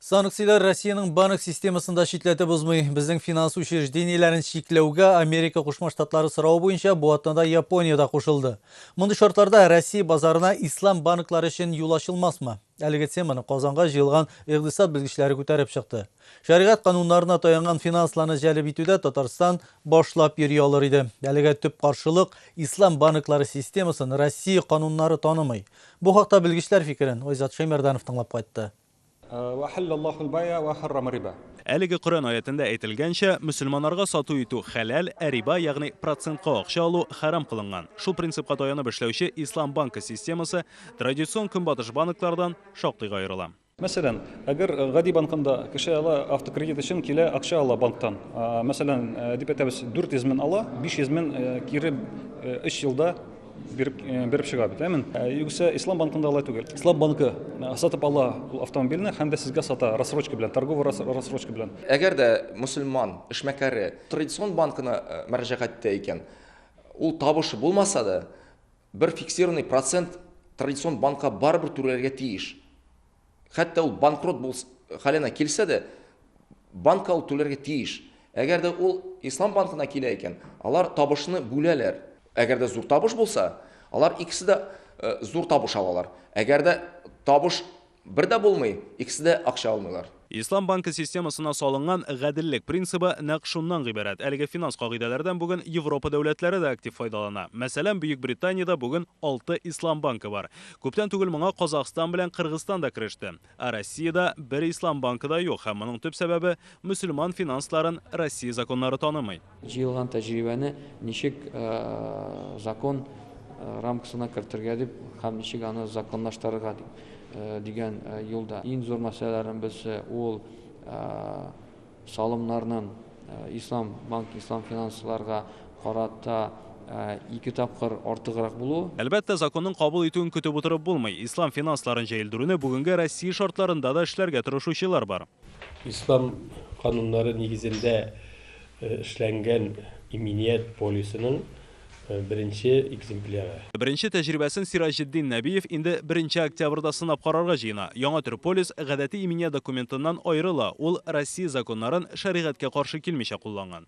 Санкцияләр Россиянең банк системасын да читләтеп узмый. Безнең финанс учреждениеләрен чикләүгә Америка Кушма Штатлары сорау буенча бу атнада Япония да кушылды. Мондый шартларда Россия базарына ислам банклары өчен юл ачылмасмы? Әлеге теманы Казанга җыелган икъдисад белгечләре күтәреп чыкты. Шәригать кануннарына таянган финансларны җәлеп итүдә Татарстан башлап йөри алыр иде. Әлегә төп каршылык ислам банклары системасын Россия кануннары танымый. Бу хакта белгечләр фикерен Айзат Шәймәрданов тыңлап кайтты. Вә хәллә Аллаһул бәйә вә хәррама риба. Әлеге Коръән аятендә әйтелгәнчә, мөселманнарга сату итү хәләл, ә риба, ягъни процентка акча алу, хәрам кылынган. Шул принципка таянып эшләүче Ислам банкы системасы традицион Көнбатыш банклардан шактыйга аерыла. Мәсәлән, әгәр гади банкында кеше ала автокредит өчен килә акча ала банктан. Мәсәлән, дип әйтәбез, 400 мең ала, 500 мең кире 3 елда биреп биреп чыга бит, әмен. Югыйсә Ислам банкында алай түгел. Ислам банкы сатып ала ул автомобильне һәм дә сезгә сата рассрочка белән, торговый рассрочка белән. Әгәр дә мөселман эшмәкәре традицион банкына мөрәҗәгать итә икән, ул табышы булмаса да, Бер фиксированный процент традицион банкка барыбер түләргә тиеш. Хәтта ул банкрот булс хәленә килсә дә, банкка ул түләргә тиеш. Әгәр дә ул Ислам банкына килә икән, алар табышны бүләләр. Әгәр дә зур табыш булса, алар икесе дә зур табыш алалар. Әгәр дә табыш Бер дә булмый, икесе дә акча алмыйлар. Ислам банкы системасына салынган гаделлек принцибы нәкъ шуннан гыйбарәт, әлеге финанс кагыйдәләрдән бүген Европа дәүләтләре дә актив файдалана. Мәсәлән, Бөекбританиядә бүген алты ислам банкы бар. Күптән түгел моңа Казахстан белән Кыргызстан да кереште. Ә Россиядә бер ислам банкы да юк һәм моның төп сәбәбе, мөселман финансларын Россия законнары танымый. Җыелган тәҗрибәне ничек закон рамкасына кертергә дип һәм ничек аны законлаштырырга дип дигән юлда. Иң зур мәсьәләләребез ул салымнарның ислам банк ислам финансларга карата ике тапкыр артыграк булуы. Әлбәттә, законның кабул итүен көтеп утырып булмый. Ислам финансларын җәелдерүне бүгенге Россия шартларында да эшләргә тырышучылар бар. Ислам кануннары нигезендә эшләнгән иминият полисының беренче экземпляры. Беренче тәҗрибәсен Сираҗетдин Нәбиев инде беренче октябрьдә сынап карарга җыена. Яңа төр полис гадәти иминият документыннан аерыла, ул Россия законнарын шәригатькә каршы килмичә кулланган.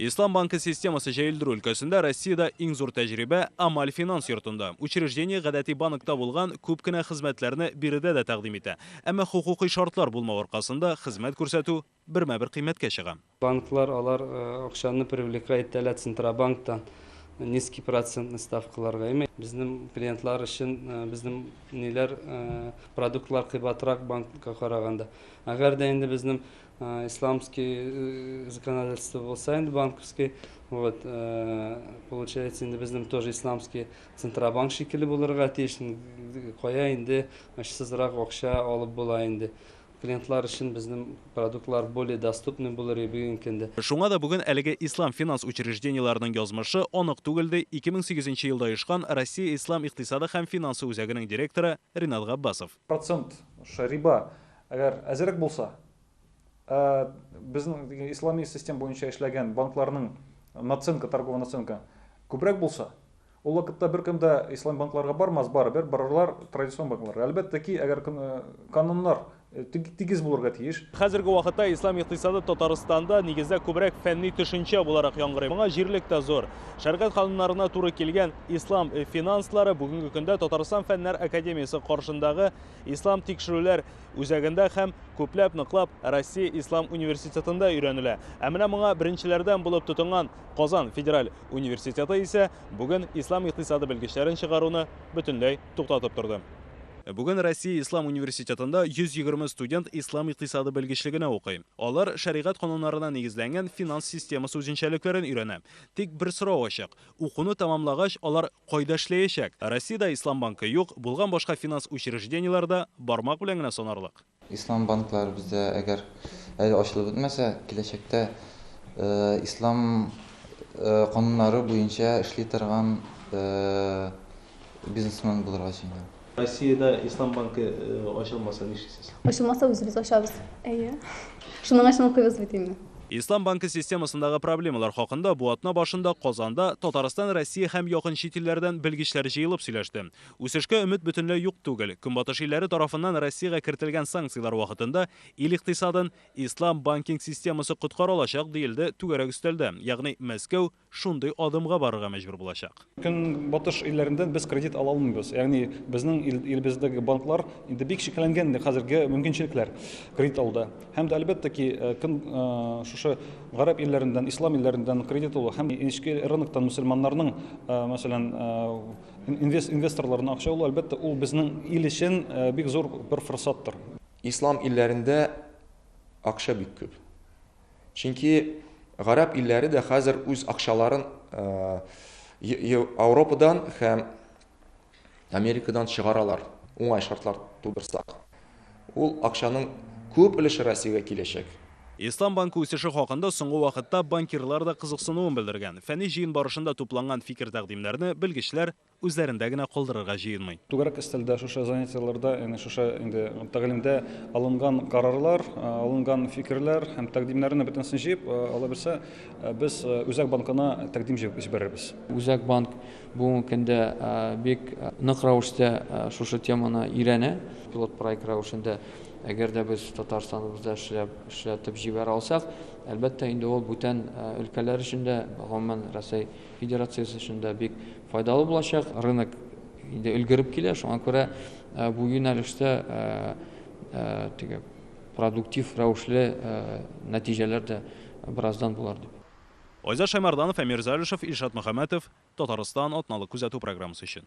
Ислам банкы системасы җәелдерү өлкәсендә Россиядә иң зур тәҗрибә Амаль финанс йортында. Учреждение гадәти банкта булган күп кенә хезмәтләрне биредә дә тәкъдим итә. Әмма хокукый шартлар булмау аркасында хезмәт күрсәтү бермә-бер кыйммәткә чыга. Банклар алар акчаны привлекать итә лә Центробанктан низкий процентный ставкаларга. Әмма безнең клиентлар өчен безнең ниләр продуктлар кыйбатрак банкка караганда. Әгәр дә инде безнең Исламский законодательство булса инде банковский, вот, получается инде безнең тоже исламский центробанк шикелле булырга тиеш. Кая инде очсызрак акча алып була инде. Клиентлар өчен безнең продуктлар более доступный булыр иде бүгенге көндә. Шуңа да бүген әлеге ислам финанс учреждениеләренең язмышы анык түгел, ди 2008 нче елда оешкан Россия ислам икътисады һәм финансы үзәгенең директоры Ринат Габбасов. Процент ш риба әгәр әзерәк булса, ә безнең диген ислами систем буенча эшләгән банкларның наценка, торговая наценка күбрәк булса, ул вакытта беркем дә ислам банкларга бармас, барыбер барырлар традицион банкларга. Әлбәттә ки, әгәр кн кануннар тг тигез булырга тиеш. Хәзерге вакытта ислам икътисады Татарстанда, нигездә, күбрәк фәнни төшенчә буларак яңгырый. Моңа җирлек тә зур. Шәргать кануннарына туры килгән ислам финанслары бүгенге көндә Татарстан фәннәр академиясе каршындагы ислам тикшерүләр үзәгендә һәм күпләп ныклап Россия ислам университетында өйрәнелә. Ә менә моңа беренчеләрдән булып тотынган Казан федераль университеты исә бүген ислам икътисады белгечләрен чыгаруны бөтенләй туктатып торды. Бүген Россия ислам университетында 120 студент ислам икътисады белгечлегенә укый. Алар шәригать кануннарына нигезләнгән финанс системасы үзенчәлекләрен өйрәнә. Тик бер сорау ачык, укуны тәмамлагач, алар кайда эшләячәк? Россиядә Ислам банкы юк, булган башка финанс учреждениеләре дә бармак белән генә санарлык. Ислам банклары бездә әгәр әле ачылып бетмәсә, киләчәктә Ислам кануннары буенча эшли торган, Бизнесмен булырга сөенәм. Россиядә Ислам банкы ачылмаса нишлисез? Ачылмаса үзебез ачабыз. Әйе. Шуның өчен укыйбыз бит инде. Ислам банкы системасындагы проблемалар хакында бу атна башында Казанда Татарстан, Россия һәм якын чит илләрдән белгечләр җыелып сөйләште. Үсешкә өмет бөтенләй юк түгел. Көнбатыш илләре тарафыннан Россиягә кертелгән санкцияләр вакытында ил икътисадын Ислам банкинг системасы коткара алачак, диелде түгәрәк өстәлдә, ягъни Мәскәү, шундый адымга барырга мәҗбүр булачак. Көнбатыш илләрендән без кредит ала алмыйбыз. Ягъни безнең илебездәге банклар инде бик чикләнгән инде хәзерге мөмкинчелекләр кредит алуда. Һәм дә әлбәттә ки, көн шушы гарәп илләрендән, ислам илләрендән кредит алу һәм эчке рыноктан мөселманнарның, мәсәлән, инвесторларының акча алу, әлбәттә, ул безнең ил өчен бик зур бер форсаттыр. Ислам илләрендә акча бик күп. Чөнки гарәп илләре дә хәзер үз акчаларын Ауропадан һәм Америкадан чыгаралар, уңай шартлар тудырсак. Ул акчаның күп өлеше Россиягә киләчәк. Ислам банкы үсеше хакында соңгы вакытта банкирлар да кызыксынуын белдергән. Фәнни җыен барышында тупланган фикер-тәкъдимнәрне белгечләр үзләрендә генә калдырырга җыенмый. Түгәрәк өстәлдә шушы занятиеләрдә, ягъни шушы инде тәгълимдә алынган карарлар, алынган фикерләр һәм тәкъдимнәрне бөтенесен җыеп, алабилсә, без Үзәк банкына тәкъдим җыеп җибәрербез. Үзәк банк бүгенге көндә бик нык рәвештә шушы теманы өйрәнә. Пилот проект рәвешендә, әгәр дә без Татарстаныбызда эшләп, эшләтеп җибәрә алсак, әлбәттә инде ул бүтән өлкәләр өчен дә, гомумән Рәсәй, Федерациясе өчен дә бик файдалы булачак. Рынок инде өлгереп килә, шуңа күрә бу юнәлештә теге продуктив рәвешле нәтиҗәләр дә бераздан булыр дип. Айзат Шәймарданов, Әмир Залишев, Илшат Мөхәммәтов, Татарстан, атналык күзәтү программасы өчен.